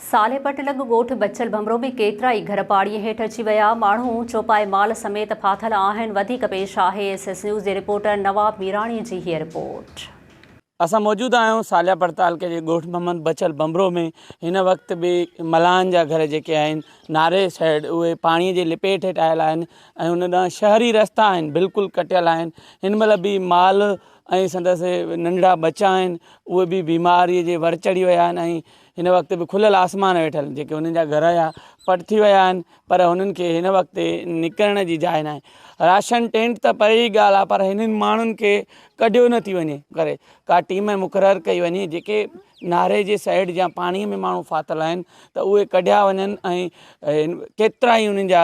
صالح پٽ لڳ ڳوٺ بچل ڀنڀرو ۾ ڪيترائي گهر پاڻي هيٺ اچي ويا، ماڻهو چوپائي مال سميت ڦاٿل آهن، وڌيڪ پيش آهي ايس ايس نيوز جي رپورٽر نواب ميراڻي جي هيء رپورٽ. اسان موجود آهيون صالح پٽ تعلقي جي ڳوٺ محمد بچل ڀنڀرو ۾ هن وقت به ملاحن جا گهر جيڪي آهن ناري سئيڊ اهي پاڻي جي لپيٽ هيٺ آيل آهن ۽ ان ڏانهن شهري رستا آهن بلڪل ڪٽيل آهن هن مهل به مال ۽ سندس ننڍڙا ٻچا آهن اهي به بيماري جي ور چڙهي ويا آهن ۽ هن وقت به کليل آسمان ويٺل جيڪي هنن جا گهر هيا پٽ ٿي ويا آهن پر هنن کي هن وقت نڪرڻ جي جاء ناهي راشن ٽينٽ ته پري جي ڳالهه آهي پر هنن ماڻهن کي ڪڍيو نه ٿي وڃي ڪري ڪا ٽيم مقرر ڪئي وڃي جيڪي ناري جي سائيڊ جا پاڻي ۾ ماڻهو ڦاٿل آهن ته اهي ڪڍيا وڃن ۽ ڪيترا ئي انهن جا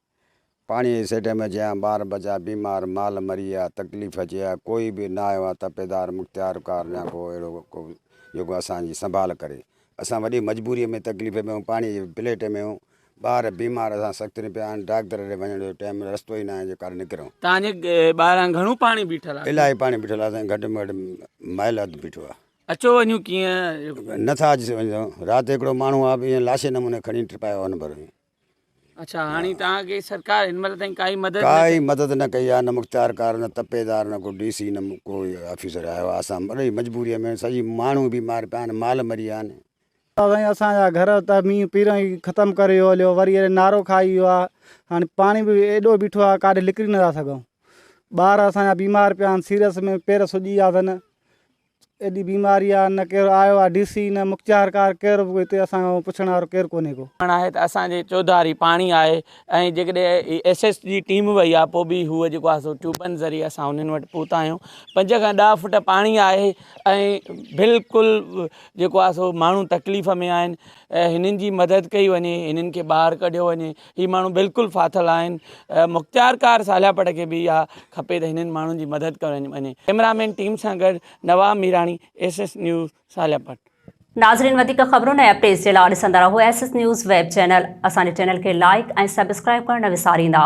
پاڻيء جي سيٽ ۾ جيان ٻار ٻچا بيمار مال مري ويا تڪليف اچي ويا ڪوئي به نه آيو آ تپيدار مختيار ڪار يا ڪو اهڙو ڪو جيڪو اسان جي سنڀال ڪري اسان وڏي مجبوريء ۾ تڪليف ۾ آهيون پاڻيء جي پليٽ ۾ آهيون ٻار بيمار اسان سخت ۾ پيا آهن ڊاڪتر ڏي وڃڻ جو ٽيم نه رستو ئي نه آهي جو ڪاڏي نڪرون. تان جي ٻاهران گهڻو پاڻي بيٺل آ. الاهي پاڻي بيٺل آ سائين گهٽ ۾ گهٽ مائل اڌ بيٺو آ. اچو وڃون ڪيئن. نه ٿا اچي سگهون رات هڪڙو ماڻهو آ به ائين لاشي نموني کڻي ٽپايو آ ان ڀر ۾. اڇا هاڻي توهان کي سرڪار هن مهل تائين ڪائي مدد نه ڪئي؟ ڪائي مدد نه ڪئي آهي نه مختيارڪار نه تپيدار نه ڪو ڊي سي نه ڪو آفيسر آيو آهي اسان الاهي مجبوري ۾ سڄي ماڻهو بيمار پيا آهن مال مري ويا آهن. ادا سائين اسان جا گهر ته مينهن پيرن ئي ختم ڪري ويو هليو وري اڙي نارو کائي ويو آ هاڻي پاڻي به ايڏو بيٺو آ ڪاڏي لڪري نٿا سگهون ٻار اسان جا بيمار پيا آهن سيرس ۾ پير سڄي ويا اٿن ايڏي بيماري آ نه ڪير آيو آ ڊي سي نه مختيارڪار ڪير به هتي اسان کان پڇڻ وارو ڪير ڪونهي ڪو. ڪرڻ آهي ته اسان جي چوڌاري پاڻي آهي ۽ جيڪڏهن ايس ايس جي ٽيم وئي آهي پوء به هو جيڪو آهي سو ٽيوبن ذريعي اسان انهن وٽ پهتا آهيون پنج کان ڏهه فوٽ پاڻي آهي ۽ بلڪل جيڪو آهي سو ماڻهو تڪليف ۾ آهن هنن جي مدد ڪئي وڃي هنن کي ٻاهر ڪڍيو وڃي هي ماڻهو بلڪل ڦاٿل آهن مختيار ڪار سالياپٽ کي به اها کپي ته هنن ماڻهن جي مدد ڪرڻ وڃي ڪيمرامين ٽيم سان گڏ Nawab Mirani S S news سالياپٽ ناظرين وڌيڪ خبرون ۽ اپڊيٽس جي لاء ڏسندا رهو S S news web channel اسان جي چينل کي لائڪ ۽ سبسڪرائب ڪرڻ نه وساريندا